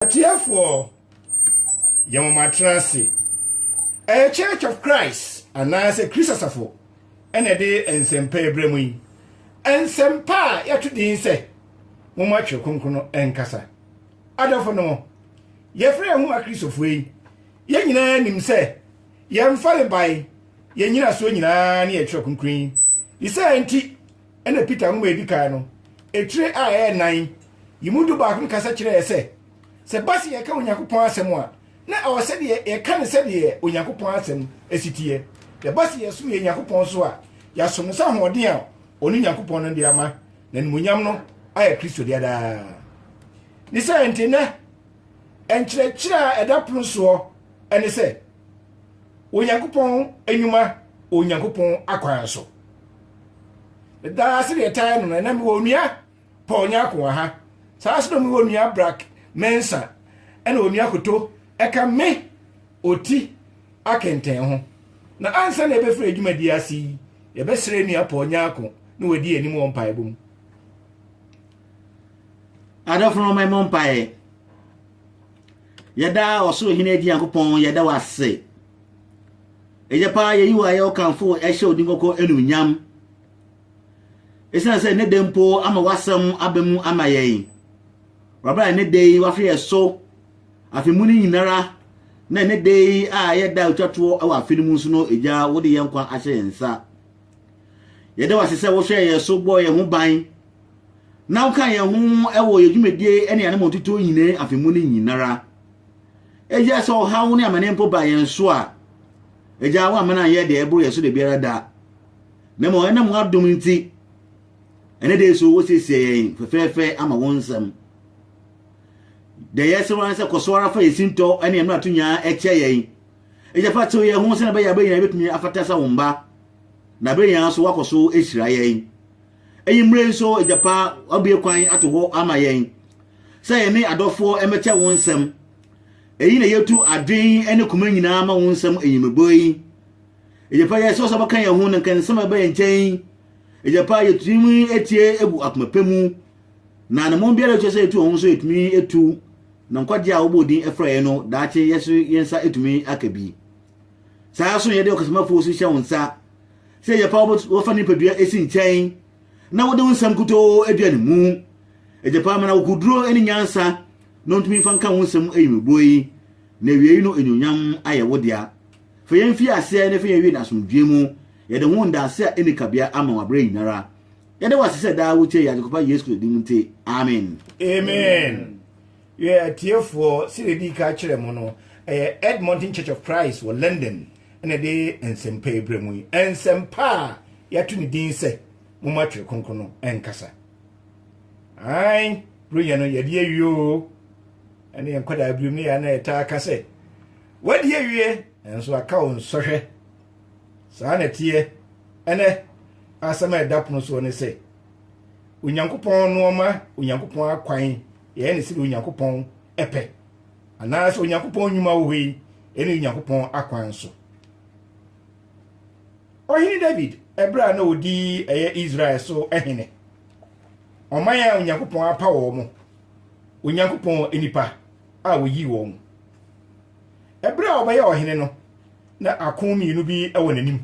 Atiefoɔ, yɛ mo matena ase. Ɛyɛ Church of Christ anaasɛ Kristo Asafo na ɛde nsɛmpa ɛbrɛ mo yi. Nsɛmpa a yɛato din sɛ Momma Twerɛ Kronkron no Nkasa. Adɔfo nom, yɛfrɛ yɛn ho Akristofoɔ yi, yɛn nyinaa nim sɛ yɛn farebae, yɛn nyinasoɔ nyinaa ne yɛn Twerɛ Kronkron yi. Ne saa nti, ɛna Peter nwoma a edi kan no, etire a ɛyɛ nnan yi mu du baako no kasa kyerɛ yɛn sɛ, sɛ ɛba sɛ yɛka Onyankopɔn asɛm a, na ɛwɔ sɛ yɛka no sɛdeɛ Onyankopɔn asɛm si teɛ. Na ɛba sɛ yɛsom yɛn Nyankopɔn nso a, yɛasom no sɛ ahoɔden a ɔno Nyankopɔn no de ama, na animuonyam no ayɛ Kristo dea daa. Ne saa nti, nnɛ Nkyerɛkyerɛ a ɛda pono soɔ ne sɛ Onyankopɔn nnwuma wɔ Onyankopɔn akwan so. Daa sɛ deɛ ɛtae no no, ɛnɛ mewɔ onua Paul Nyako wɔ ha. Saa sɛ mewɔ onua Brak Mensa ɛna onua Koto ɛka me ɔti akɛntɛn ho. Na ansa na yɛbɛfiri adwumadie ase yi, yɛbɛsrɛ nua Paul Nyako na wadi anim wɔ mpaebɔ mu. Adɔfo no, mɛmɔ mpaeɛ. Yɛda ɔsoro hene agyi Nyankopɔn, yɛda wo ase. Ɛyɛ paa yɛyi wo ayɛ wo kamfo ɛhyɛ wo din kɔkɔ anuonyam. Ɛsiane sɛ ne de mpo ama w'asɛm aba mu ama yɛn. Wɔbra ne de yi wafrɛ yɛ so afe mu no nyinara na ne de yi a yɛda otwa toɔ wɔ afe no mu nso no ɛgya wode yɛn nkwa ahyɛ yɛn nsa. Yɛda wo ase sɛ wohwɛɛ yɛn so bɔɔ yɛn ho ban na wokaa yɛn ho wɔ yɛn dwumadie ne yɛn mɔtotoɔ nyinaa afe mu no nyinara. Agya sɛ ɔhaw ne amane mpo ba yɛn so a, agya wo amana yɛ deɛ ɛboro yɛn so da biara da. Na mmom ɛnam w'adom nti, ɛne dee so wosiesie yɛn fɛfɛɛfɛ ama wo nsɛm. Deɛ yɛsrɛ wo ara sɛ kɔ so ara fa yɛn sintɔ ne yɛn mmarato nyinaa kyɛ yɛn. Enti fa tew yɛn ho sɛnea ɛbɛyɛ a bere nyinaa yebetumi afata sɛ wo mma, na bere nyinaa nso woakɔ so ahyira yɛn. Eyi mmere nso Agya Pa, wabue kwan ato hɔ ama yɛn sɛ yɛne adɔfoɔ mmɛkyɛ wo nsɛm. Eyi na yɛtu adwene ne koma nyinaa ma wo nsɛm enyimebɔ yi. Agya Pa, yɛsrɛ sɛ wobɛka yɛn ho na nka nsɛm a ɛba yɛn nkyɛn. Agya Pa, yɛtumi atie gu akoma pɛ mu. Na ne mmɔn biara a ɛsɛ sɛ yɛtu wɔn ho nso yɛtumi tu, na nkwagye a wɔbɔɔ din frɛ yɛn no, daakye yɛn nso yɛn nsa atumi aka bi. Saa ara nso yɛde ɔkasamafo nso hyɛ wo nsa sɛ yɛ paa wɔfa nipadua esi nkyɛn na wɔde wo nsɛm kutoo adua ne mu. Ɛgye paa ma na wokuduro ne nyansa na ɔntumi mfa nka wo nsɛm ayimibuo yi, na awiei no anuonyam ayɛ wo dea. Fa yɛn mfi aseɛ na fa yɛn wie no asomdwoeɛ mu. Yɛde ho ndaase a ɛnni kabea ama wo aberɛ nyinara. yɛde wɔ ase sɛ daa wotie yɛ adekopa yesu kristo din mu nti amen amen yɛ atiefoɔ sɛ yɛdi ka kyerɛ mu no ɛyɛ edmonton church of christ wɔ london ɛna ɛde nsɛmpa ɛbrɛ mu yi nsɛmpa a yɛato ne din sɛ moma twere kronkron no ɛnkasa ae berɛnya no yɛde awie o ɛne yɛnkɔdaa biom ne yɛa na yɛtaa ka sɛ wadi awie nanso aka wo nsɔhwɛ Saa na ɛteɛ ɛnɛ. Asɛm a ɛda pono soɔ ne sɛ, Onyankopɔn nnoɔma, Onyankopɔn akwan, yɛyɛ ne sɛdeɛ Onyankopɔn pɛ, anaasɛ Onyankopɔn nnwuma wɔ hɔ yi, ɛne Onyankopɔn akwan nso. Ɔhene David, ɛberɛ a na ɔdi ɛyɛ Israel so hene, ɔman a Onyankopɔn apa wɔn, Onyankopɔn nnipa a wɔyii wɔn. Bere a ɔbɛyɛ ɔhene no, na ako mmienu bi wɔ n'anim.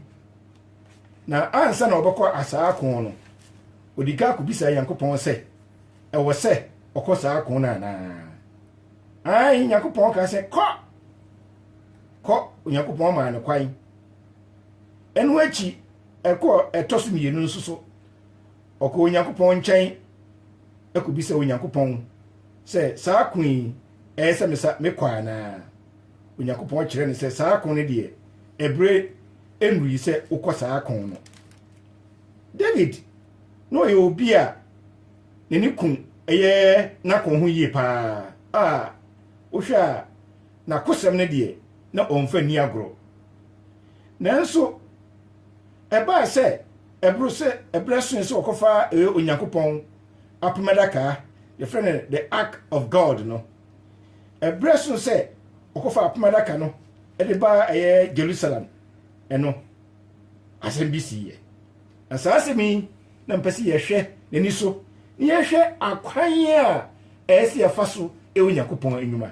Na ansa na ɔbɛkɔ saa ako no, ɔdi ka kɔbisa Nyankopɔn sɛ, ɛwɔ sɛ ɔkɔ saa ako no anaa? Ae, Nyankopɔn ka sɛ, kɔ! Kɔ, Onyankopɔn maa no kwan. Ɛno akyi, ɛkɔ ɛtɔ so mmienu nso so. Ɔkɔ Onyankopɔn nkyɛn kɔbisa Onyankopɔn sɛ saa ako yi ɛyɛ sɛ mesa mekɔ anaa? Onyankopɔn kyerɛ no sɛ saa ko no deɛ, ɛberɛ nnurui sɛ wokɔ saa ko no. David na ɔyɛ obi a ne ne kun ɛyɛ n'ako ho yie paa a wohwɛ a n'akosɛm no deɛ na ɔmfa nni agorɔ. Nanso ɛbaa sɛ ɛboro sɛ ɛberɛ soe sɛ ɔkɔfa Onyankopɔn apam adaka a yɛfrɛ no the ark of god no ɛberɛ so sɛ ɔkɔfa apam adaka no de baa ɛyɛ jerusalem ɛno asɛm bi siiɛ na saa asɛm yi na mpɛ sɛ yɛhwɛ n'ani so na yɛhwɛ akwan a ɛyɛ sɛ yɛfa so ɛwɔ nyankopɔn anwuma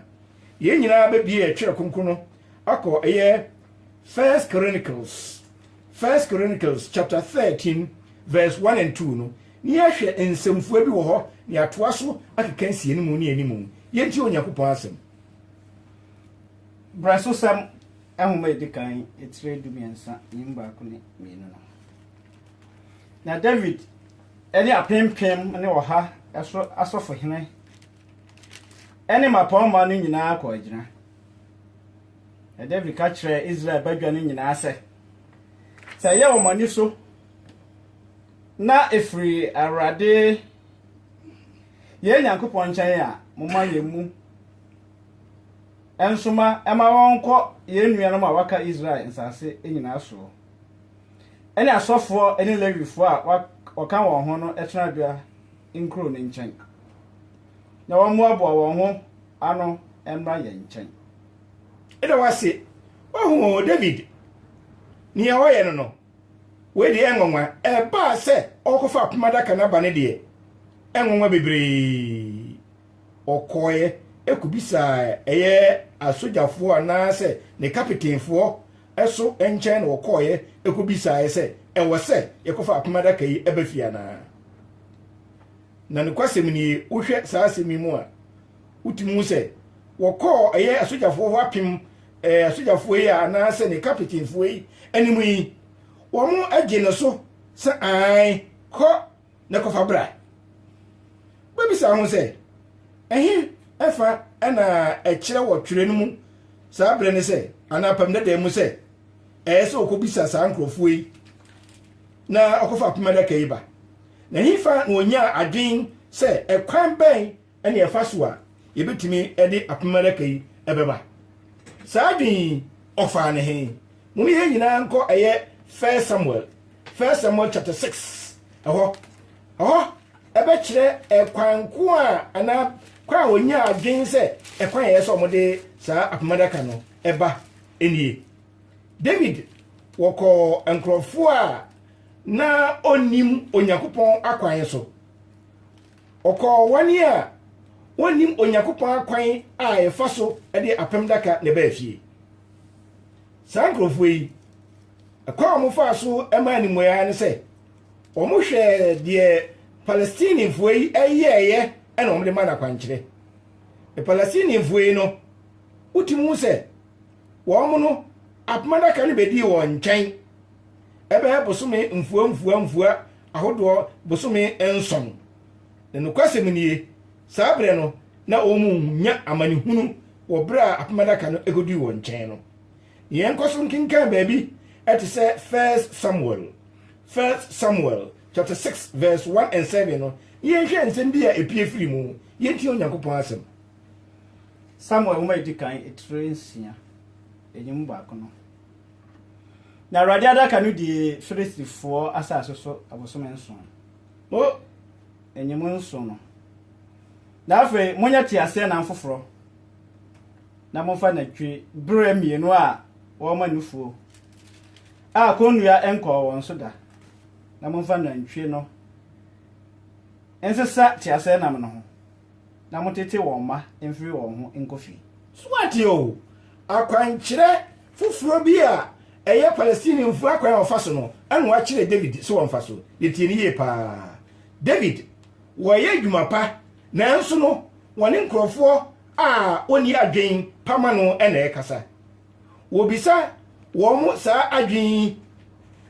yɛn nyinaa bɛbie ɛtwerɛ kronkron no akɔ ɛyɛ first chronicles first chronicles chapter 13 verse 1 and 2 no Ne yɛahwɛ nsɛmfua bi wɔ hɔ na yɛatoa so akeka nsianimu ne animu. Yɛntie Onyankopɔn Asɛm. Brɛsosɛm nhoma a edi kan, tire dumiɛnsa ne mu baako ne mmienu no. Na Dawid ne apempem ne ɔha so asɔfohene ne mmapɔmma no nyinaa kɔɔ agyina. Na Dawid ka kyerɛɛ Israel badwa no nyinaa sɛ, sɛ ɛyɛ wɔn ani so na ɛfiri Awurade yɛn Nyankopɔn nkyɛn a, momma yɛn mu nsoma ma wɔnkɔ yɛn nuanom a wɔaka Israel nsase nyinaa soɔ, ɛne asɔfoɔ ne Lewifoɔ a wɔka wɔn ho no tenabea nkuro no nkyɛn, na wɔmmoaboa wɔn ho ano mmra yɛn nkyɛn. Ɛda wo ase, woahunu Dawid, deɛ wɔyɛ no no. Wei deɛ ɛnwanwa, ɛbaa sɛ ɔrekɔfa apam adaka no aba no deɛ, ɛnwanwa bebree. Ɔkɔeɛ kɔbisaa ɛyɛ asogyafoɔ anaasɛ ne kapitenfoɔ so nkyɛn na ɔkɔeɛ kɔbisaeɛ sɛ ɛwɔ sɛ yɛkɔfa apam adaka yi ba fie anaa. Na nokwasɛm nie, wohwɛ saa asɛm yi mu a, Wotumi hu sɛ wɔkɔɔ ɛyɛ asogyafoɔ hɔ apem ɛɛ eh, asogyafoɔ yi anaasɛ ne kapitenfoɔ yi anim yi wɔn agye ne so sɛ an kɔ ne kɔfa bra wobɛbisa ho sɛ ɛhe ɛfa ɛna ɛkyerɛ wɔ twerɛ no mu saa berɛ ne sɛ anaa apam dada mu sɛ ɛyɛ sɛ wɔkɔbisa saa nkurɔfoɔ yi na ɔkɔfa apem adaka yi ba na ɛhefa na ɔnya adwen sɛ ɛkwan bɛn ne ɛfa so a yɛbɛtumi de apem adaka yi bɛba. Saa adwene yi, ɔfaa ne he? Mone yɛn nyinaa nkɔ ɛyɛ First Samuel, First Samuel chapter 6 ɛhɔ. Ɛhɔ ɛbɛkyerɛ ɛkwan ko a anaa kwan a wɔnya adwene sɛ ɛkwan ɛyɛ sɛ wɔde saa apem adaka no ɛba nie. David wɔkɔɔ nkurɔfoɔ a na ɔnnim Onyankopɔn akwan so. Ɔkɔɔ wɔn a wɔnnim Onyankopɔn akwan a yɛfa so de apem daka na ɛbaa fie. Saa nkurɔfoɔ yi, ɛkwan a wɔfaa so maa ne mmuaeɛ ne sɛ, wɔhwɛɛ deɛ Palestinifoɔ yi yɛeɛ na wɔde ma no akwankyerɛ. Palestinifoɔ yi no, wotumi hu sɛ wɔn no apem adaka no bɛdii wɔn nkyɛn ɛbɛyɛ bosome mfua mfua mfua ahodoɔ bosome nson na nokwasɛm nie saa berɛ no na wɔn nya amanehunu wɔ berɛ a apem adaka no ɛkɔdii wɔn nkyɛn no na yɛnkɔ so nkenkan baabi ɛte sɛ first samuel first samuel chapter 6 verse 1 and 7 no yɛnhwɛ nsɛm bi a ɛpie firi mu yɛntie onyankopɔn asɛm Samuel nwoma a edi kan etire nsia, enye mu baako no. Na Awurade adaka no dii Filistifoɔ asase so abosome nson. O, enye mu nson no. Na afei monyɛ teaseɛnam foforɔ, na momfa nantwi berɛ mmienu a wɔma nufuo, a kɔnnua nkɔɔ wɔn so da, na momfa nantwie no nsesa teaseɛnam no ho. na motete wɔn mma mfiri wɔn ho nkɔ fie. So woate o? Akwankyerɛ foforɔ bi a ɛyɛ Palestinefo akwan a wɔfa so no na wɔakyerɛ David sɛ ɔmfa so. Yɛtie no yie paa. David, wɔreyɛ adwuma pa, nanso no wɔne nkurɔfoɔ a wɔnni adwene pa ma no na ɛrekasa. Wɔbisa wɔn saa adwene yi,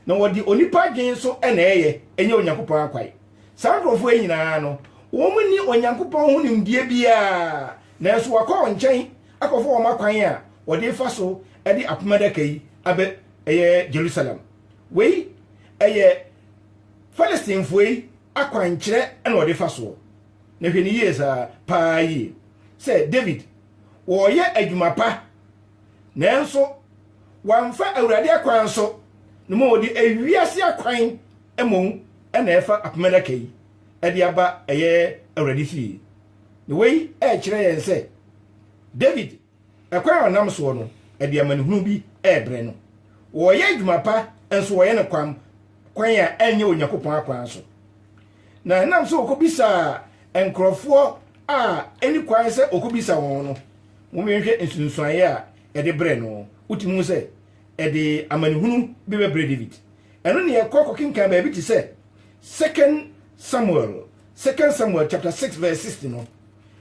na wɔde onipa adwene nso na ɛreyɛ, ɛnyɛ Onyankopɔn akwan. Saa nkurɔfoɔ yi nyinaa no, wɔn nni Onyankopɔn ho nimdeɛ biara, nanso wɔakɔ wɔn nkyɛn akɔfa wɔn akwan a wɔde refa so de apam adaka yi abɛ ɛyɛ Jerusalem. Wei ɛyɛ Philistinefoɔ yi akwankyerɛ na wɔde fa soɔ. Na hwɛ ne yie saa paa yie sɛ David wɔreyɛ adwuma pa, nanso wɔamfa Awurade akwan so na ma wɔde ewiase akwan Mmom na ɛfa apem adaka yi de aba ɛyɛ Awurade fie. Na wei rekyerɛ yɛn sɛ David ɛkwan a ɔnam soɔ no de amanehunu bi rebrɛ no. Wɔyɛ adwuma pa nso wɔyɛ no kwam kwan a ɛnyɛ Onyankopɔn akwan so. Na ɛnam sɛ wɔkɔbisaa nkurɔfoɔ a ɛni kwan sɛ wɔkɔbisa wɔn no, momenhwɛ nsunsuaeɛ a ɛde brɛ no. Wotumi hu sɛ ɛde amanehunu bi bɛbrɛ David. Ɛno ne yɛnkɔ kɔkenkan baabi te sɛ second Samuel, second Samuel chapter 6 verse 60 no.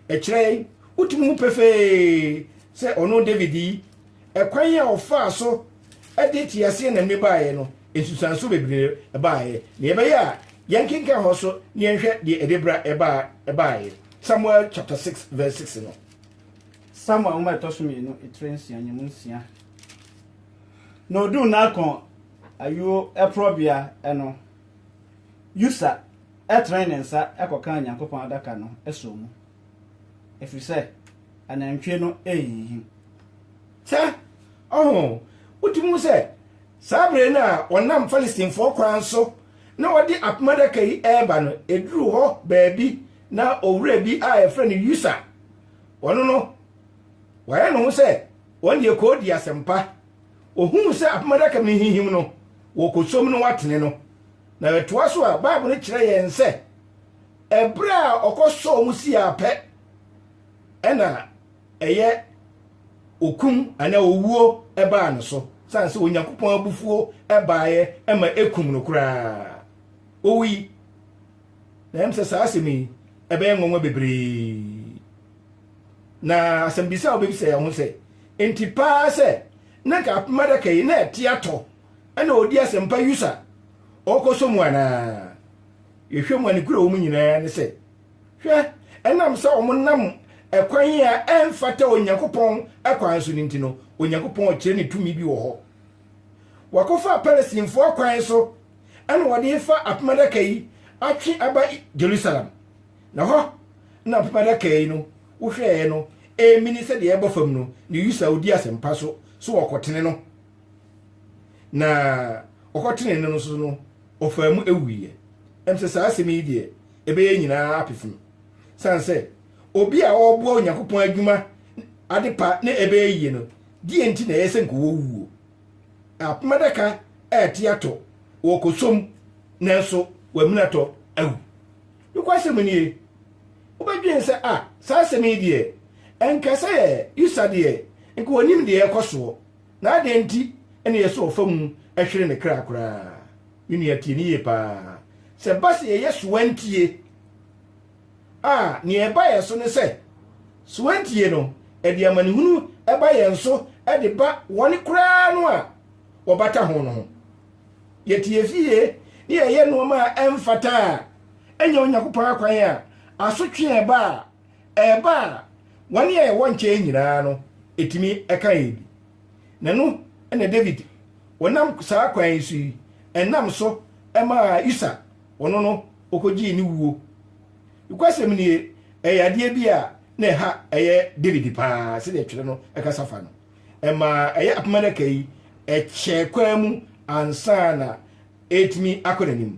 Ɛkyerɛ yɛn, wotumi hu pefee sɛ ɔno David yi, ɛkwan a ɔfaa so de teaseɛnam ne baeɛ no, nsusuanso bebree baeɛ. Na yɛbɛyɛ a yɛnkenkan hɔ so na yɛnhwɛ deɛ ɛde bra ɛbaeɛ. Samuel chapter 6 verse 6 no. Samuel nwoma ɛtɔ so mmienu, etire nsia, nyamu nsia. Na oduu Nakon ayuo porɔbea no, Usa tene ne nsa kɔkaa Onyankopɔn Adaka no sɔɔ mu, ɛfiri sɛ anantwie no rehinhim. Sɛ, ɔho, wotumi hu sɛ saa bere no a wɔnam Philistinefoɔ kwan so na wɔde Apem Adaka yi reba no, ɛduruu hɔ baabi na owura bi a yɛfrɛ no Usa, ɔno no, wayɛ ne ho sɛ wɔn deɛ kɔɔdi asɛmpa. Ohuu sɛ apam adaka no hinhim no, wɔkosom no atene no. Na ɛtoa so a, Bible no kyerɛ yɛn sɛ, ɛberɛ a ɔkɔsɔɔ mu si ara pɛ, ɛna ɛyɛ okum anaa owuo baa no so, sane sɛ Onyankopɔn abufuo baeɛ ma ɛkum no koraa. Owui. Na ɛm sɛ saa asɛm yi ɛbɛyɛ nwanwa bebree. Na asɛmbisa a wobebisa yɛn ho sɛ, Enti paa sɛ na nka apem adaka yi na ɛte atɔ na ɔredi asɛmpa yus a ɔrekɔsɔ mu anaa? Yɛhwɛ mu a, ne kura wɔ mu nyinaa ne sɛ, hwɛ, ɛnam sɛ wɔnam ɛkwan a ɛmfata Onyankopɔn kwan so no nti no, Onyankopɔn rekyerɛ ne tumi bi wɔ hɔ. Wɔakɔfa Palestinefo akwan so na wɔde refa apem adaka yi atwe aba Jerusalem. Na hɔ na apam adaka yi no wohwɛɛ no ɛmini sɛdeɛ ɛbɔ fam no, ne Usa ɔdi asɛmpa so so wɔkɔtene no, na wɔkɔtene no nso no ɔfaa mu ɛwuiɛ. Ɛm sɛ saa asɛm yi deɛ ɛbɛyɛ nyinaa apefem, sane sɛ obi a ɔreboa Onyankopɔn adwuma adepa ne ɛbɛyɛ yie no, deɛ nti na ɛyɛ sɛ nka wɔwuo? Apam adaka ɛrete atɔ, wɔkɔsom nanso wɔaminatɔ awu. Nokwasɛm nie, wobɛdwen sɛ ah, saa asɛm yi deɛ, ɛnka sɛ usa deɛ nka ɔnnim deɛ ɛrekɔ soɔ, na adɛn nti na ɛyɛ sɛ ɔfa mu hwere ne kra koraa? Me nua tie no yie paa, sɛ ɛba sɛ yɛyɛ sowantie a, nea ɛba yɛn so ne sɛ, sowantie no, ɛde amanehunu ba yɛn so de ba wɔn koraa no a wɔbata ho no ho. yɛteɛ fie na yɛyɛ nnoɔma a ɛmfata a ɛnyɛ onyankopɔn akwan a asotwe a ɛba a ɛba a wɔn a ɛwɔ nkyɛn nyinaa no ɛtumi ɛka yɛn bi na no ɛna david wɔnam saa kwan yi so yi ɛnam so ɛmaa usa ɔno no ɔkɔgyee ne wuo nokwasɛm nie ɛyɛ adeɛ bi a na ɛha ɛyɛ david paa sɛdeɛ twerɛ no ɛkasa fa no ɛma ɛyɛ apam adaka yi kyɛ kwan mu ansa na ɛretumi akɔ n'anim.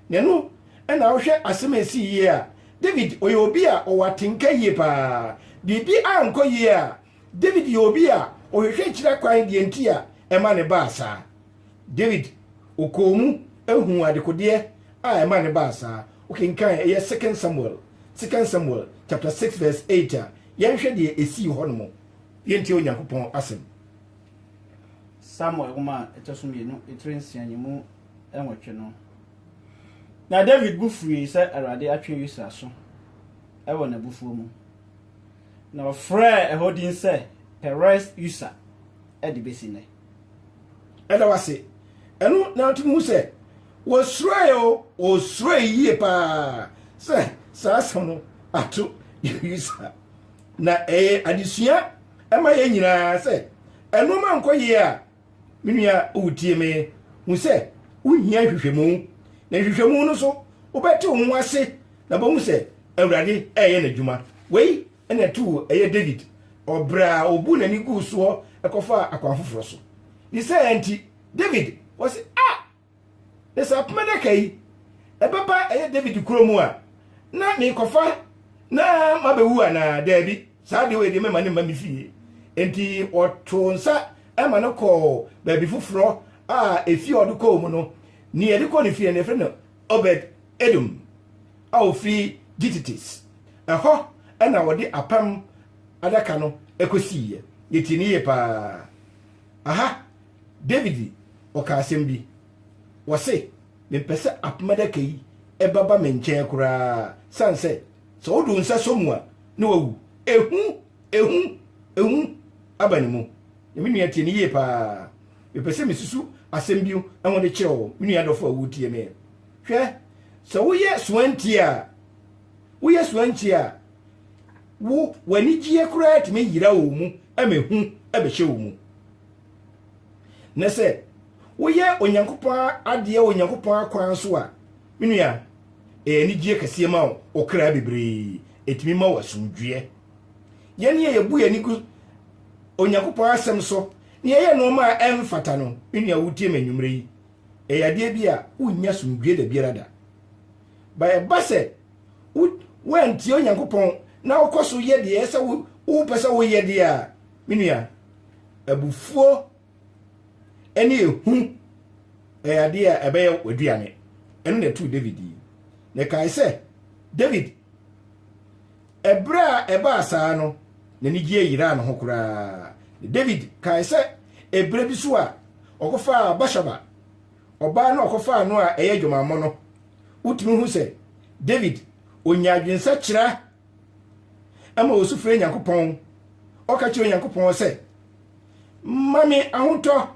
Na ɛno na wohwɛ asɛm a ɛsii yie a, David ɔyɛ obi a ɔwɔ atenka yie paa. Biribi ankɔ yie a, David yɛ obi a ɔhwehwɛ akyiri akwan deɛ nti a ɛma ne baa saa. David ɔkɔɔ mu huu adekodeɛ a ɛma ne baa saa. Wokenkan ɛyɛ Second Samuel, Second Samuel chapter 6 verse 8 a, yɛnhwɛ deɛ ɛsii hɔ nom. yɛntie onyankopɔn asɛm samuel nwoma a ɛtɔ so mmienu etire nsia yi mu nwɔtwe no na david bu furii sɛ awurade atwe usa aso wɔ n'abufuo mu na ɔfrɛɛ ɛhɔ din sɛ peres usa de bɛsi nnɛ ɛda wase ɛno na ato mu sɛ wɔsuroe o wɔsuroe yie paa sɛ saa asɛm no ato usa Na ɛyɛ adesua ma yɛn nyinaa sɛ nnoɔma ankɔ yie a, me nua wotie me, hu sɛ wohia nhwehwɛmu. Na nhwehwɛmu no so wobɛte wo ho ase na bɛhu sɛ Awurade ɛyɛ n'adwuma. Wei na ɛtoo ɛyɛ David, ɔbrɛ a ɔbu n'ani guu soɔ kɔfaa akwan foforɔ so. Ne saa nti David ɔse, Ah! Na sɛ apem adaka yi ɛbɛba ɛyɛ David kuro mu a, na merekɔfa na mabɛwu anaa? Daabi, saa adeɛ wei deɛ mɛma no mma me fie. Enti wɔtoo nsa ɛma no kɔɔ baabi foforɔ a efie a ɔde kɔɔ mu no, nea yɛde kɔɔ ne fie no yɛfrɛ no Obed Edom a ɔfiri Gititis. Ɛhɔ na wɔde apam adaka no kɔsiiɛ. Yɛtii no yie paa. Aha David ɔka asɛm bi, ɔse, Mempɛ sɛ apem adaka yi bɛba me nkyɛn koraa, sane sɛ, sɛ wode wo nsa sɔ mu a, na wawu. Ehu, ehu, ehu aba ne mu. Na me nua tie no yie paa. Mepɛ sɛ mesusu asɛm bi ho de kyerɛ wo, me nua dɔfo a woretie me. Hwɛ, sɛ woyɛ soantie a, woyɛ soantie a, wo w'anigyeɛ koraa tumi yera wo mu ma ehu bɛhyɛ wo mu. Na sɛ woyɛ Onyankopɔn adeɛ wɔ Onyankopɔn akwan so a, me nua, ɛyɛ anigyeɛ kɛseɛ ma wo kra bebree. Ɛtumi ma wo asomdwoeɛ. Yɛne a yɛbu yɛn ani gu Onyankopɔn asɛm so na yɛyɛ nneɛma a ɛmfata no, me nua wotie me anwummerɛ yi, ɛyɛ adeɛ bi a wonnya asomdwoeɛ da biara da. Ba ɛba sɛ woantie Onyankopɔn na wokɔ so yɛ deɛ ɛsɛ wopɛ sɛ woyɛ deɛ a, Me nua, abufuo ne ehu ɛyɛ adeɛ a ɛbɛyɛ w'aduane. Ɛno na ɛtoo David yi. Na ɛkae sɛ, David, ɛberɛ a ɛbaa saa no, n'anigyeɛ yeraa ne ho koraa. David kae sɛ, ɛberɛ bi so a ɔkɔfaa Bashaba, ɔbaa no a ɔkɔfaa no a ɛyɛ adwamammɔ no, wotumi hu sɛ David ɔnya adwensakyera ɛma osu frɛ Nyankopɔn. Ɔka kyerɛ Onyankopɔn sɛ, Ma me ahotɔ,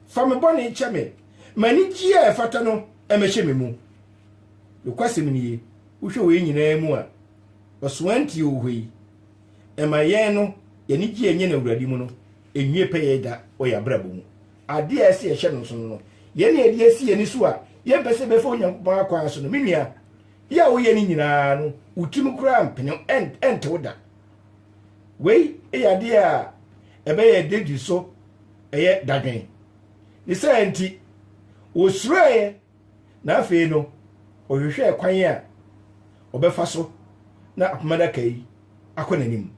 fa me bɔne kyɛ me, ma anigyeɛ a ɛfata no mmɛhyɛ me mu. Nokwasɛm nie, wohwɛ wei nyinaa mu a, ɔsoantie wɔ hɔ yi. Ɛma yɛn no, yɛn anigyeɛ a ɛnyɛ no Awurade mu no nwie pɛyɛ da wɔ yɛn abrabɔ mu. Adeɛ a ɛsɛ yɛhyɛ no nsono no, yɛn na yɛde asi yɛn ani so a yɛmpɛ sɛ yɛbɛfa Onyankopɔn akwan so no, me nua, Yɛ a woyɛ no nyinaa no, wo tirim koraa mpene ɛntew da. Wei yɛ adeɛ a ɛbɛyɛ David so ɛyɛ dadwen. Ne saa nti, wɔsuroeɛ na afei no ɔhwehwɛɛ kwan a ɔbɛfa so na apam adaka yi akɔ n'anim.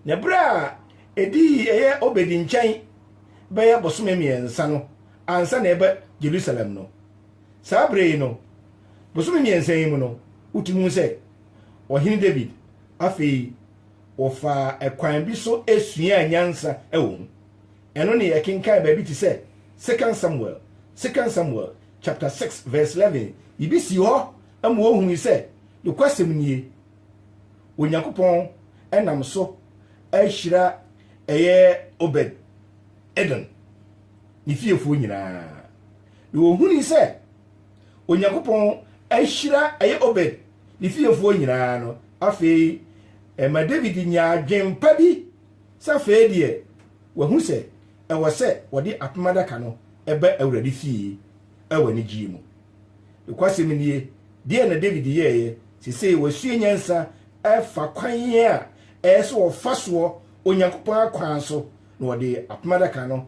Na berɛ a ɛdii ɛyɛ Obedi nkyɛn bɛyɛ bosome mmiɛnsa no ansa na ɛba Jerusalem no, Saa bere yi no, bosome mmiɛnsa yi mu no, wotu hu sɛ Ɔhene David afei wɔfaa ɛkwan bi so suaa nyansa wɔ mu. Ɛno ne yɛkenkan baabi te sɛ Second Samuel, Second Samuel chapter 6 verse 11, biribi sii hɔ ma wɔhui sɛ nokwasɛm nie, Onyankopɔn nam so ahyira ɛyɛ Obed Edom ne fiefoɔ nyinaa. Na wɔhunii sɛ Onyankopɔn ahyira ɛyɛ Obed ne fiefoɔ nyinaa no, afei ɛma Dawid nyaa adwen pa bi sɛ afei deɛ wahu sɛ ɛwɔ sɛ wɔde apem adaka no ba Awurade fie wɔ anigyeɛ mu. Nokwasɛm nie, deɛ na Dawid yɛeɛ, sesei wasua nyansa afa kwan a ɛyɛ sɛ wɔfa soɔ Onyankopɔn akwan so na wɔde apem adaka no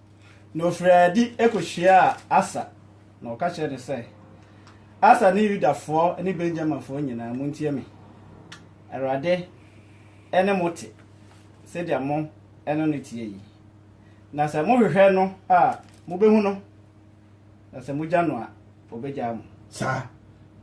Na ɔfirii adi kɔhyiaa Asa, na ɔka kyerɛɛ no sɛ, Asa ne Yudafoɔ ne Benyaminfoɔ nyinaa, montie me. Awurade ne mo te sɛdeɛ mo ne no teɛ yi. Na sɛ mohwehwɛ no a, mobɛhu no, na sɛ mogya no a, ɔbɛgyaa mo. Saa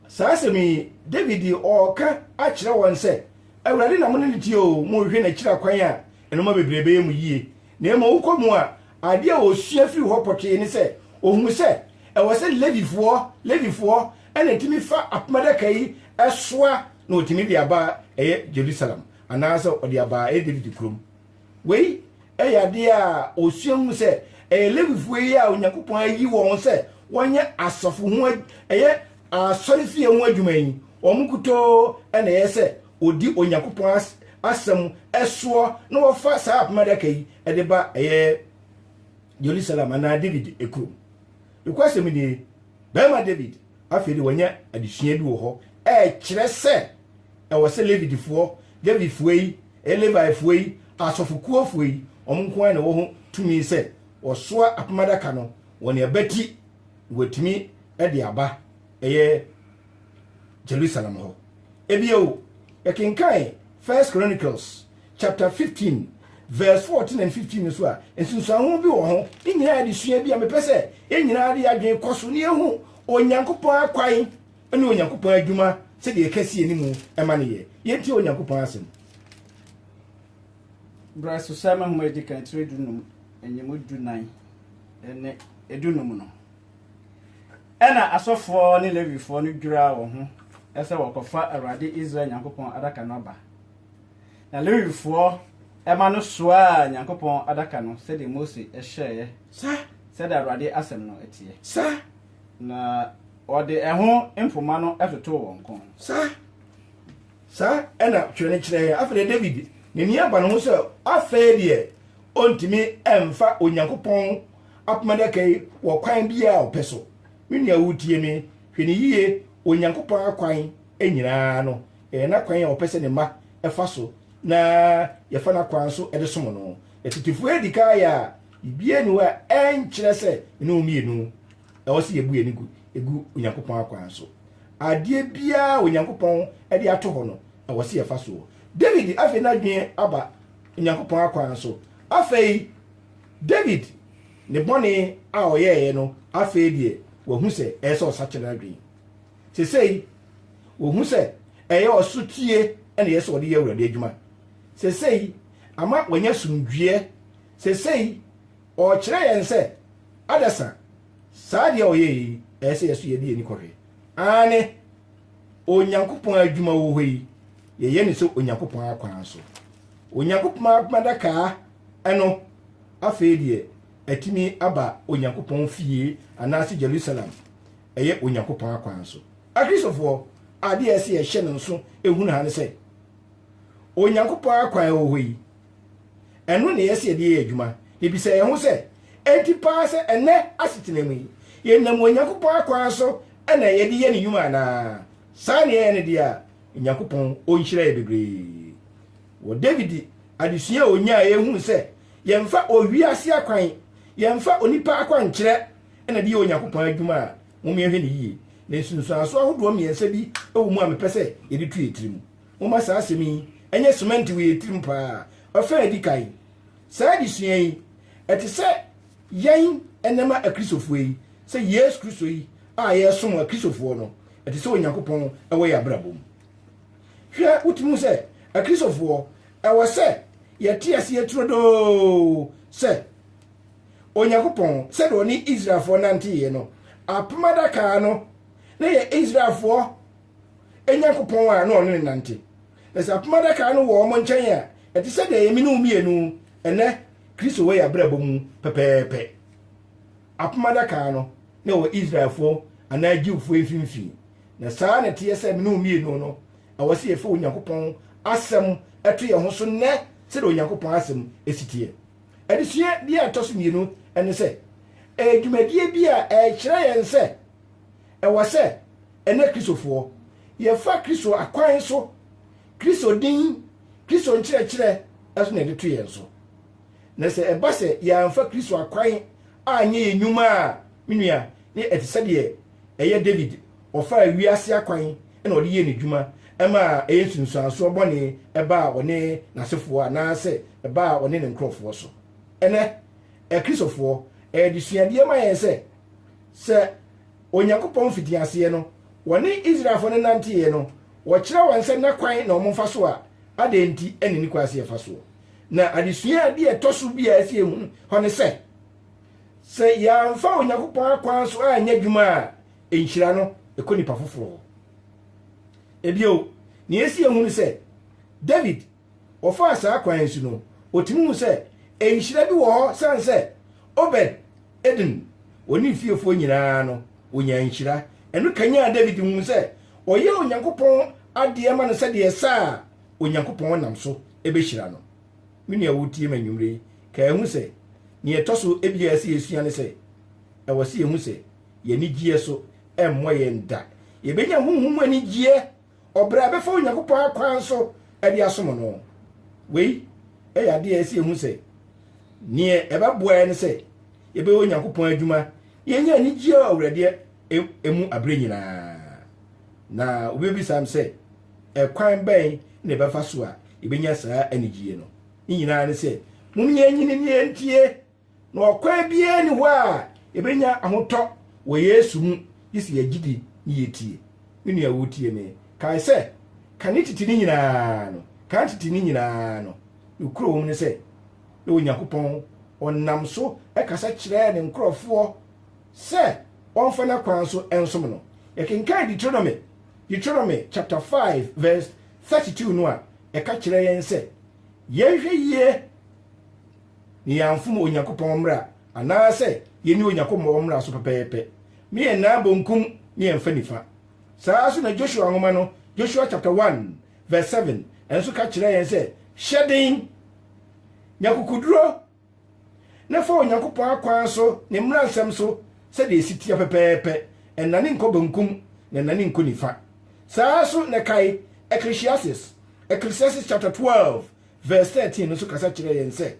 saa asɛm yi Dawid ɔreka akyerɛ wɔn sɛ, Awurade na mo ne no teɛ oo, mohwehwɛ n'akyiri akwan a, ɛnoɔma bebree bɛyɛ mo yie. Na mmom wokɔ mu a, ade a ɔsua firi hɔ pɔtee ne sɛ, ɔhunu sɛ ɛwɔ sɛ Levifoɔ, Levifoɔ, na ɛtumi fa apam adaka yi soa na ɔtumi de aba ɛyɛ Jerusalem, anaasɛ ɔde aba ɛyɛ Dawid kurom. Wei yɛ adeɛ a ɔsua hunu sɛ ɛyɛ Levifoɔ yi a Onyankopɔn ayi wɔn sɛ wɔnyɛ asafo ho ɛyɛ asɔrefie ho adwuma yi, wɔn nkutoo na ɛyɛ sɛ wɔdi Onyankopɔn asɛm soɔ na wɔfa saa apam adaka yi de ba ɛyɛ Jerusalem anaa David kurom. Nokwasɛm nie, barima David afei de wɔanya adesua bi wɔ hɔ ɛkyerɛ sɛ ɛwɔ sɛ Levitifoɔ, Levifoɔ yi, Levifoɔ yi, asɔfokuofoɔ yi, wɔn nko ara na ɛwɔ ho tumi sɛ wɔsoa apam adaka no wɔn abati na wɔatumi de aba ɛyɛ Jerusalem hɔ. Ebio, yɛkenkan First Chronicles chapter 15 verse 14 and 15 nso a, nsunsuanho bi wɔ ho. Ne nyinaa yɛde sua bi a mepɛ sɛ yɛn nyinaa de adwene kɔ so na yɛhu Onyankopɔn akwan ne Onyankopɔn adwuma sɛdeɛ ɛka si anim ɛma ne yɛ. Yɛntie Onyankopɔn asɛm. Berɛ so sɛ mahoma edi kan tiri dunum, enyim dunan ne dunum no, Ɛnna asɔfoɔ ne Lewifoɔ no dwiraa wɔn ho sɛ wɔrekɔfa Awurade Israel Nyankopɔn Adaka no aba. Na Lewifoɔ mma no soaa Nyankopɔn Adaka no sɛdeɛ Mose hyɛeɛ, sɛdeɛ Awurade asɛm no teɛ. Na wɔde ɛho mpoma no totoo wɔn kɔn. Saa na Twerɛ no kyerɛ yɛn. Afei deɛ Dawid n'ani aba ne ho sɛ afei deɛ ɔntumi mfa Onyankopɔn apam adaka yi wɔ ɔkwan biara a ɔpɛ so. Me nua a wutie me, hwɛ no yiye, Onyankopɔn akwan nyinaa no, ɛyɛ n'akwan a ɔpɛ sɛ ne mma fa so na yɛfa n'akwan so de som no. Atitefo adi kan ayɛ a biribiara nni hɔ a ɛnkyerɛ sɛ me ne wo mmienu, ɛwɔ sɛ yebu yɛn ani gu Onyankopɔn akwan so. Adeɛ biara a Onyankopɔn de ato hɔ no, ɛwɔ sɛ yɛfa so. David afei n'adwene aba Onyankopɔn akwan so. Afei, David ne bɔne a ɔyɛeɛ no, afei deɛ wahu sɛ ɛyɛ sɛ ɔsakyera adwene. Sesei, wɔhu sɛ ɛyɛ ɔsotie na ɛyɛ sɛ ɔde yɛ Awurade adwuma. Sesei, ama wanya somdweɛ. Sesei, ɔrekyerɛ yɛn sɛ, adasa, saa adeɛ a ɔyɛeɛ yi, ɛyɛ sɛ yɛso yɛde yɛni kɔhwɛ. Aane, Onyankopɔn adwuma wɔ hɔ yi, yɛyɛ no sɛ Onyankopɔn akwan so. Onyankopɔn adwuma dakaa. Ɛno, afei deɛ, atumi aba Onyankopɔn fie anaase Jerusalem, ɛyɛ Onyankopɔn akwan so. Akristofoɔ, adeɛ a ɛsɛ yɛhyɛ no nso hunu ha ne sɛ, Onyankopɔn akwan a ɛwɔ hɔ yi, ɛno na ɛyɛ sɛ yɛde yɛ adwuma. Na bisa yɛn ho sɛ, enti paa sɛ ɛnnɛ asetena mu yi, yɛnam Onyankopɔn akwan so na yɛde yɛ ne nnwuma anaa? Saa na yɛyɛ no deɛ a, Onyankopɔn ɔnhyira yɛ bebree. Wɔ David adesua a onyae a ehuu sɛ yɛmfa owi ase akwan, yɛmfa onipa akwankyerɛ na ɛde yɛ Onyankopɔn adwuma a, momma yɛnhwɛ no yiye. Ne nsunsuanso ahodoɔ mmiɛnsa bi wɔ mu a mepɛ sɛ yɛde tu yɛn tirim. Momma saa asɛm yi nyɛ semɛnte wɔ yɛn tirim paa. Ɔfã a edi kan, Saa adesua yi, ɛte sɛ yɛn nnɛma Akristofoɔ yi, sɛ Yesu Kristo yi a yɛresom a Kristofoɔ no, ɛte sɛ Onyankopɔn wɔ yɛn abrabɔ mu. Hwɛ, wotumi hu sɛ Akristofoɔ, ɛwɔ sɛ yɛte aseɛ turodoo sɛ Onyankopɔn, sɛdeɛ ɔne Israelfoɔ nanteeɛ no, apam adaka no na yɛ Israelfoɔ Nyankopɔn a na ɔne ne nante. Na sɛ apam adaka no wɔ wɔn nkyɛn a, ɛte sɛ deɛ yɛme ne wo mmienu ɛnɛ Kristo wɔ yɛn abrabɔ mu pɛpɛɛpɛ. Apam Adaka no na ɛwɔ Israelfoɔ anaa Jewfoɔ mfimfini, na saa ara na ɛteɛ sɛ me ne wo mmienu no, ɛwɔ sɛ yɛfa Onyankopɔn Asɛm to yɛn ho so nnɛ sɛdeɛ Onyankopɔn Asɛm si teɛ. Adesua bi a ɛtɔ so mmienu ne sɛ, ɛyɛ dwumadie bi a ɛrekyerɛ yɛn sɛ ɛwɔ sɛ ɛnnɛ Kristofoɔ, yɛfa Kristo akwan so, Kristo din, Kristo nkyerɛkyerɛ so na yɛde to yɛn so. Na sɛ ɛba sɛ yɛamfa Kristo akwan anyɛ yɛn nnwuma a, me nua, ne ɛte sɛ deɛ ɛyɛ David, ɔfaa wiase akwan na ɔde yɛɛ n'adwuma, ɛma ɛyɛ nsunsuansoɔ bɔne ɛbaa ɔne n'asefoɔ anaasɛ ɛbaa ɔne ne nkurɔfoɔ so. Ɛnnɛ, Akristofoɔ, ɛyɛ adesuadeɛ ma yɛn sɛ, sɛ Onyankopɔn mfitiaseɛ no, wɔne Israelfoɔ no nanteeɛ no, wɔkyerɛ wɔn sɛ n'akwan na wɔmfa so a, adɛn nti na ne kwan sɛ yɛfa soɔ? Na adesua bi a ɛtɔ so bi a ɛsɛ sɛ yehu hɔ ne sɛ, sɛ yɛamfa Onyankopɔn akwan so anyɛ adwuma a, nhyira no kɔ nnipa foforo hɔ. Ebio, nea ɛsɛ yehu ne sɛ, David, ɔfaa saa kwan so no, otumi hu sɛ nhyira bi wɔ hɔ san sɛ Obed Edom wɔ ne fiefoɔ nyinaa no, onyaa nhyira. Ɛno kanyan David huu sɛ ɔyɛ Onyankopɔn adeɛ ma no sɛdeɛ ɛsɛ a, Onyankopɔn nam so bɛhyira no. Me nua a woretie me anwummere yi, kae hu sɛ, nea ɛtɔ so ebia a ɛsɛ yɛsua ne sɛ, ɛwɔ sɛ yɛhu sɛ yɛn anigyeɛ so mmɔ yɛn da. Yɛbɛnya honhom mu anigyeɛ ɔbrɛ a ɛbɛfa Onyankopɔn akwan so de asom no. Wei yɛ adeɛ a ɛsɛ yɛhu sɛ, neɛ ɛbɛboa yɛn ne sɛ yɛbɛyɛ Onyankopɔn adwuma na yɛnya anigyeɛ ɔwerɛdeɛ mu aberɛ nyinaa. Na wobɛbisa m sɛ, Ɛkwan bɛn na ɛbɛfa so a yɛbɛnya saa anigyeɛ no? Ne nyinaa ne sɛ, mom yɛnyini ne yɛntie, na ɔkwan biara ni hɔ a yɛbɛnya ahotɔ wɔ Yesu mu gye sɛ yɛgyidi ne yɛtie. Me nua wotie me, kae sɛ, ka ne titi ne nyinaa no, ka ne titi ne nyinaa no. Nokorɛ wɔ mu ne sɛ, na Onyankopɔn ɔnam so kasa kyerɛɛ ne nkorɔfoɔ, sɛ wɔmfa n'akwan so nsom no. Yɛkenkan Deuteronomy, Deuteronomy chapter 5 verse 32 no a, ɛka kyerɛ yɛn sɛ yɛnhwɛ yie na yɛamfom Onyankopɔn mmara anaasɛ yɛnni Onyankopɔn mmara so pɛpɛɛpɛ. Me yɛn nan bonkum ne yɛn fa nifa. Saa ara nso na Joshua nwoma no, Joshua chapter 1 verse 7 nso ka kyerɛ yɛn sɛ, Hyɛ den, nya kukuduro, na fa Onyankopɔn akwan so, ne mmaransɛm so, sɛdeɛ ɛsi teɛ pɛpɛɛpɛ, ɛnnane nkɔ benkum, na ɛnnane nkɔ nifa. Saa ara nso na kae, Ecclesiastes, Ecclesiastes chapter 12 verse 13 no nso kasa kyerɛ yɛn sɛ,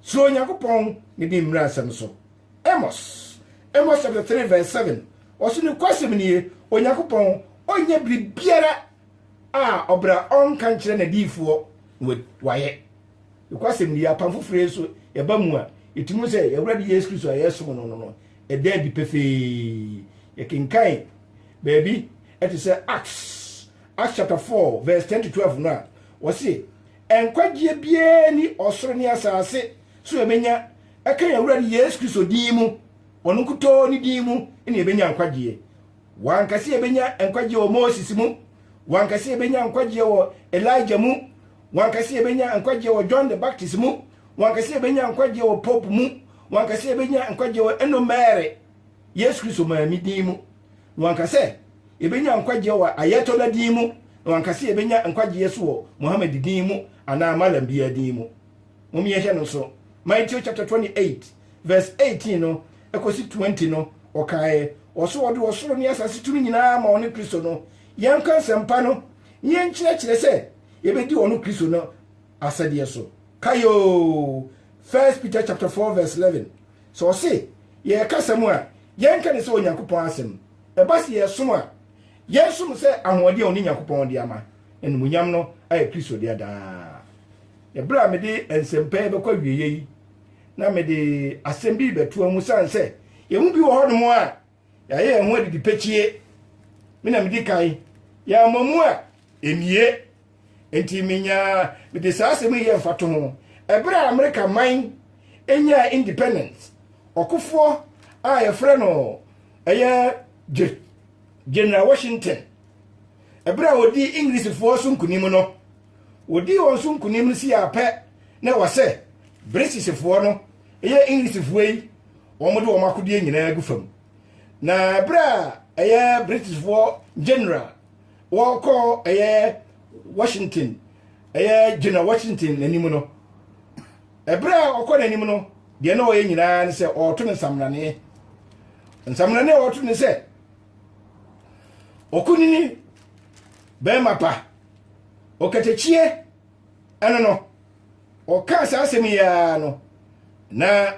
Suro Onyankopɔn ne di mmaransɛm so. Amos, Amos chapter 3 verse 7, ɔse nokwasɛm nie, Onyankopɔn ɔnyɛ biribiara a ɔbra ɔnka nkyerɛ n'adiyifoɔ na wayɛ. nokwasɛm ni apam foforɔ yi so yɛba mu a ɛtumi mu sɛ yɛwurade yesu kristo a yɛsom no no no ɛda adi pefee yɛkenkan baabi ɛte sɛ acts acts chapter 4 verse 10 to 12 no a wɔse nkwagyeɛ biara ni ɔsoro ne asase so yɛbɛnya ɛka yɛwurade yesu kristo din mu ɔno nkutoo ne din mu ne yɛbɛnya nkwagyeɛ W'ankasa yɛbɛnya nkwagyeɛ wɔ Moses mu, w'ankasa yɛbɛnya nkwagyeɛ wɔ Elijah mu, w'ankasa yɛbɛnya nkwagyeɛ wɔ John the Baptist mu, w'ankasa yɛbɛnya nkwagyeɛ wɔ Pope mu, w'ankasa yɛbɛnya nkwagyeɛ wɔ Eno Mary, Yesu Kristo maame din mu, na w'ankasa yɛbɛnya nkwagyeɛ wɔ Ayatollah din mu, na w'ankasa yɛbɛnya nkwagyeɛ so wɔ Muhammad din mu anaa Malam biara din mu. Mom yɛnhwɛ no nso. Maitio chapter 28. Verse eighteen no kosi twenty no, ɔkaeɛ, ɔse ɔde ɔsoro ne asase tumi nyinaa ama ɔne Kristo no, yɛnka nsɛmpa no na yɛnkyerɛkyerɛ sɛ yɛbɛdi ɔno Kristo no asɛdeɛ so. Kae oo, First Peter chapter four verse eleven, sɛ ɔse yɛrekasa mu a, yɛnka no sɛ Onyankopɔn asɛm, ɛba sɛ yɛresom a, yɛnsom sɛ ahoɔden a ɔne Nyankopɔn de ama, na animuonyam no ayɛ Kristo dea daa. Ɛberɛ a mede nsɛmpa yi bɛkɔ awieɛ yi, na mede asɛm bi rebɛtoa mu sane sɛ yɛmu bi wɔ hɔnom a yɛayɛ yɛn ho adidi pɛkyie me na medi kan yɛama mu a ɛnie nti menya mede saa asɛm yi yɛ mfato ho ɛberɛ a amerika man ɛnyaa independence ɔkofoɔ a yɛfrɛ no ɛyɛ general washington ɛberɛ a ɔdi englishfoɔ so nkonim no Wɔdii wɔn so nkonim no sii ara pɛ na ɛwɔ sɛ Britishfoɔ no yɛ Englishfoɔ yi wɔde wɔn akodeɛ nyinaa gu fam. Na berɛ a ɛyɛ Britishfoɔ general wɔkɔ ɛyɛ Washington ɛyɛ General Washington n'anim no, ɛberɛ a ɔkɔ n'anim no deɛ na ɔyɛ nyinaa ne sɛ ɔreto no nsamraneɛ. Nsamraneɛ a ɔreto ne sɛ ɔkunini bɛrima pa. Ɔkatakyie ano no, ɔkaa saa asɛm yi ara no, na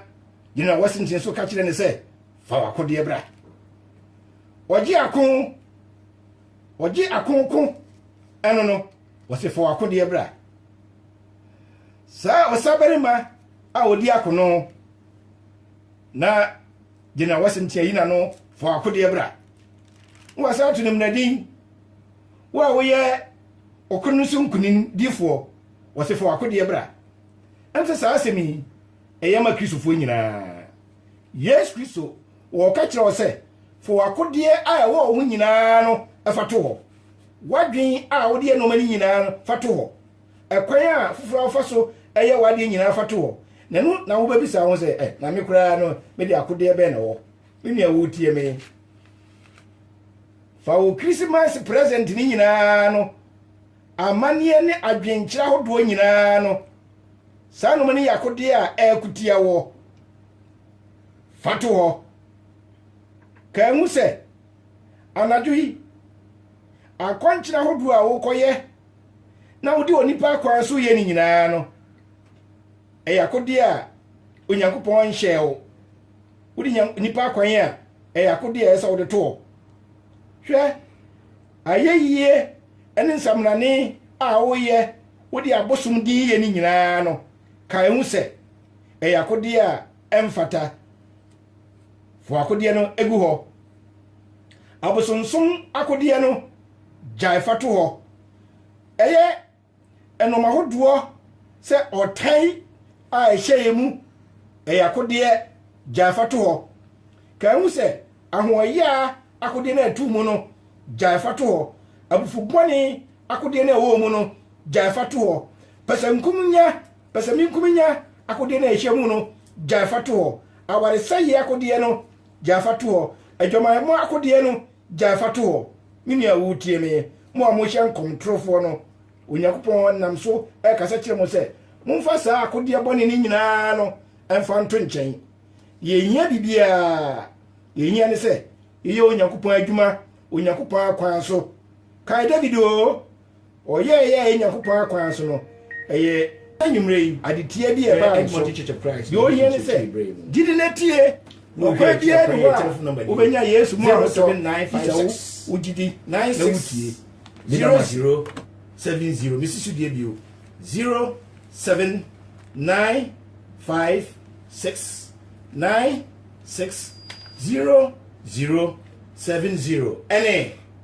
General Washington nso ka kyerɛ ne sɛ, fa w'akodeɛ bra. Ɔgye ako, ɔgye ako ko ano no, ɔsɛ fa w'akodeɛ bra. Saa ɔsabarima a ɔdi ako no, na General Washington ayi n'ano fa w'akodeɛ bra. Wɔasan to no mmunadin. Wo a woyɛ ɔko no so nkonim difoɔ, wɔ se fa w'akodeɛ bra. Ɛm sɛ saa asɛm yi ɛyɛ ma Kristofoɔ nyinaa. Yesu Kristo wɔ ɔka kyerɛ wo sɛ fa w'akodeɛ a ɛwɔ wo ho nyinaa no fa to hɔ. W'adwen a wode yɛ nnoɔma no nyinaa no fa to hɔ. Ɛkwan a foforɔ a wofa so yɛ w'adeɛ nyinaa fa to hɔ. Na ɛno na wobɛbisa wo ho sɛ, eh, na me koraa no mede akodeɛ bɛn na ɛwɔ? Me nua wotie me. Fa wo Christmas present ne nyinaa no amanneɛ ne adwenkyerɛ ahodoɔ nyinaa no saa nom ne yakodeɛ a ɛkutia wɔ fa to hɔ ka ahu sɛ anadwo yi akɔnkyerɛ ahodoɔ a wokɔyɛ na wode onipa akwan so yɛ ne nyinaa no ɛyɛ akodeɛ a onyankopɔn nhyɛɛ wo wode nya nnipa akwan a ɛyɛ akodeɛ a ɛsɛ sɛ wode to hɔ hwɛ ayɛyie ne nsamanane a woyɛ wode abosom din yɛ ne nyinaa no ka ɛho sɛ ɛyɛ akodeɛ a ɛmfata fo akodeɛ no egu hɔ abosomsom akodeɛ no gyae fa to hɔ ɛyɛ Ɛnom ahodoɔ sɛ ɔtan a ɛhyɛeɛ mu ɛyɛ akodeɛ gyae fa to hɔ. Ka ɛho sɛ ahoɔyaa akodeɛ no a ɛto mu no gyae fa to hɔ, abufu bɔne akodeɛ no a ɛwɔ mu no gyae fa to hɔ, pɛsɛnkumenya pɛsɛmenkumenya akodeɛ no a ɛhyɛ mu no gyae fa to hɔ, awaresɛeɛ akodeɛ no gyae fa to hɔ, adwamammɔ akodeɛ no Gyae fa to hɔ, me nua a woretie me. Mo a mohyɛ nkɔm torofoɔ no, Onyankopɔn nam so rekasa kyerɛ mo sɛ, Momfa saa akodeɛ bɔne no nyinaa no mfa nto nkyɛn. Yɛnhia biribiara. Deɛ yɛhia ne sɛ yɛyɛ Onyankopɔn adwuma Onyankopɔn akwan so. Kae David oo! Ɔyɛɛ yɛ yɛ Nyankopɔn akwan so no, ɛyɛ. Anwummerɛ yi, ade tia bi a ɛbaa me so. Deɛ ɔhia ne sɛ, gyidi na tie. Ɔkwan biara ni hɔ a wobɛnya Yesu mu ahotɔ, gye sɛ wo, wogyidi na wotie. Zero zero seven zero. Mesi so die bio. Zero seven nine five six nine six zero zero seven zero. Ɛne.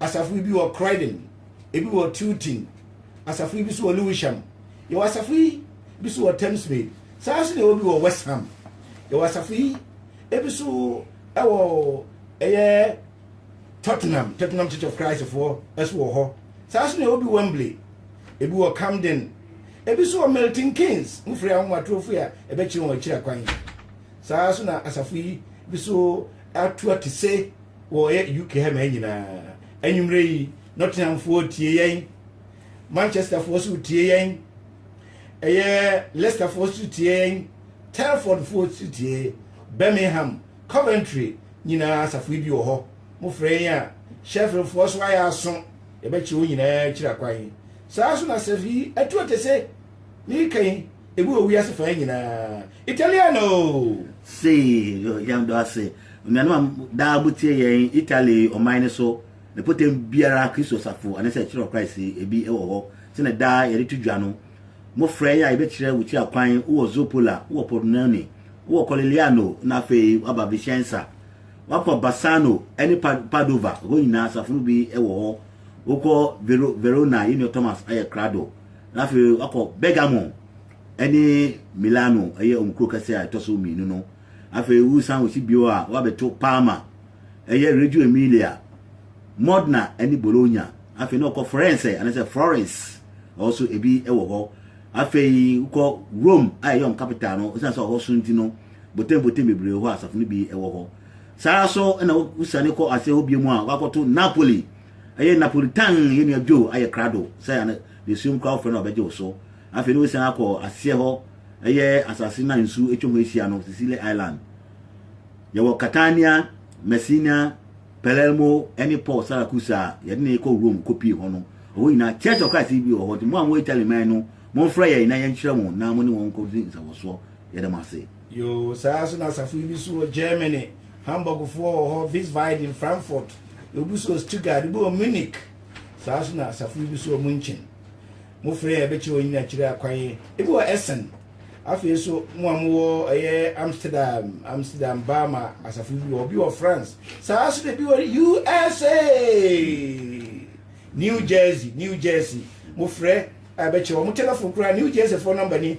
asafo bi wɔ Croydon, ebi wɔ Tilton, asafo bi nso wɔ Lewisham. Yɛwɔ asafo yi bi nso wɔ Thamesmead. Saa nso na yɛwɔ bi wɔ West Ham. Yɛwɔ asafo yi ebi nso wɔ ɛyɛ Tottenham, Tottenham Church of Christ foɔ nso wɔ hɔ. Saa nso na yɛwɔ bi Wembley, ebi wɔ Camden, ebi nso wɔ Milton Keynes, mo firi ahomatorofo a ɛbɛkyerɛ wɔn akyiri akwan. Saa nso na asafo yi bi nso atua te se wɔyɛ UK ha mmaa nyinaa. Anwummerɛ yi, Nottinghamfoɔ tie yɛn, Manchesterfoɔ so tie yɛn, ɛyɛ Leicesterfoɔ so tie yɛn, Telfordfoɔ so tie, Birmingham, Coventry nyinaa asafo yi bi wɔ hɔ. Mofrɛ yɛn a, Sheffieldfoɔ so ayɛ aso, yɛbɛkyerɛ wɔn nyinaa akyiri akwan. Saa so na asafo yi atu ɔte se, meka yi, Ebi wɔ wiase faa nyinaa. Italiano! Sei, yɛn dɔ ase. Nnuanom a daa mo tie yɛn Italy ɔman no so, ne pɔtam biara Kristo safo anasɛ kyerɛ Christ ebi wɔ hɔ sɛnɛ daa yɛde to dwa no. Mo frɛ yɛ a yɛbɛkyerɛ wo tia kwan, wowɔ Zoppola, wowɔ Pordenone, wowɔ Corigliano na afei woaba Vicenza. Woakɔ Bassano ne Padova, hɔ nyinaa asafo no bi wɔ hɔ. Wokɔ Verona, yɛn nua Thomas ayɛ krado. Na afei wakɔ Bergamo ne Milano, ɛyɛ wɔn kuro kɛseɛ a ɛtɔ so mmienu no. Afei wosan wɔsi bio a wɔabɛto Parma, ɛyɛ Reggio Emilia, Modena ne Bologna. Afei na ɔkɔ Firenze anaasɛ Florence, ɛhɔ so ebi wɔ hɔ. Afei wokɔ Rome a ɛyɛ wɔn capital no, ɛsiane sɛ ɔhɔ so nti no, botenboten bebree wɔ hɔ a asafo no bi wɔ hɔ. Saa ara so na wosiane kɔ ase hɔ bio mu a, wakɔto Napoli. Ɛyɛ Napolitan yɛ nua Joe ayɛ krado sɛ ano desuo nkura wofrɛ no a ɔbɛgye wo so. Afei ne wosian akɔ aseɛ hɔ ɛyɛ asase no a nsu atwa ho ahyia no, Sicily Island. Yɛwɔ Catania, Messina, Palermo ɛne Port Saracusa a yɛde no rekɔ Rome kɔpie hɔ no. Ɛhɔ nyinaa Church of Christ bi wɔ hɔ nti mo a mowɔ Italy man no momfrɛ yɛn na yɛnkyerɛ mo na mo ne wɔn nkɔdi nsawɔsoɔ. Yɛda mo ase. Yoo, saa ara nso na asafo yi bi so wɔ Germany, Hamburgfoɔ wɔ hɔ, Wiesbaden, Frankfurt, yɛwɔ bi so wɔ Stuttgart, ebi wɔ Munich, saa ara nso na asafo yi bi so wɔ München. Mo frɛ a ɛbɛkyerɛ wɔn nyinaa akyire akwan, ebi wɔ Essen, afei nso mo a mowɔ ɛyɛ Amsterdam, Amsterdam, Bama, asafo yi bi wɔ hɔ, bi wɔ France, saa ara nso na ebi wɔ USA, New Jersey, New Jersey, mo frɛ a ɛbɛkyerɛ wɔn, mo telefon koraa, New Jerseyfoɔ nɔmba ni,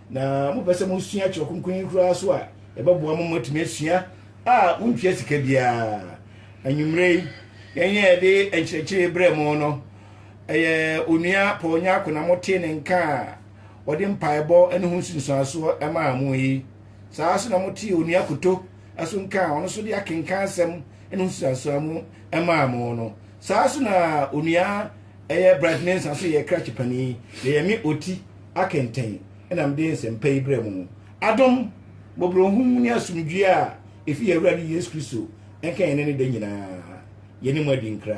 Na mopɛ sɛ mosua Kyerɛw Kronkron yi koraa so a, yɛbɛboa mo ma moatumi asua a muntua sika biara. Anwummere yi, yɛn a yɛde nkyerɛkyerɛ yi brɛɛ mo no, ɛyɛ Onua Paul Nyarko na motee ne nka a ɔde mpaebɔ ne ho nsunsuansoɔ maa mo yi. Saa ara nso na motee Onua Koto nso nka a ɔno nso de akenkan asɛm ne ho nsunsuansoɔ mu maa mo no. Saa ara nso na Onua ɛyɛ Bright Mensah nso yɛ krakye panin, na ɛyɛ me ɔti akɛntɛn na mede nsɛmpa yi brɛ mo. Adom, mmɔborɔhunu ne asomdwoeɛ a ɛfiri yɛn Awurade Yesu Kristo nka yɛn nnɛ ne da nyinaa. Yɛne mo adi nkra.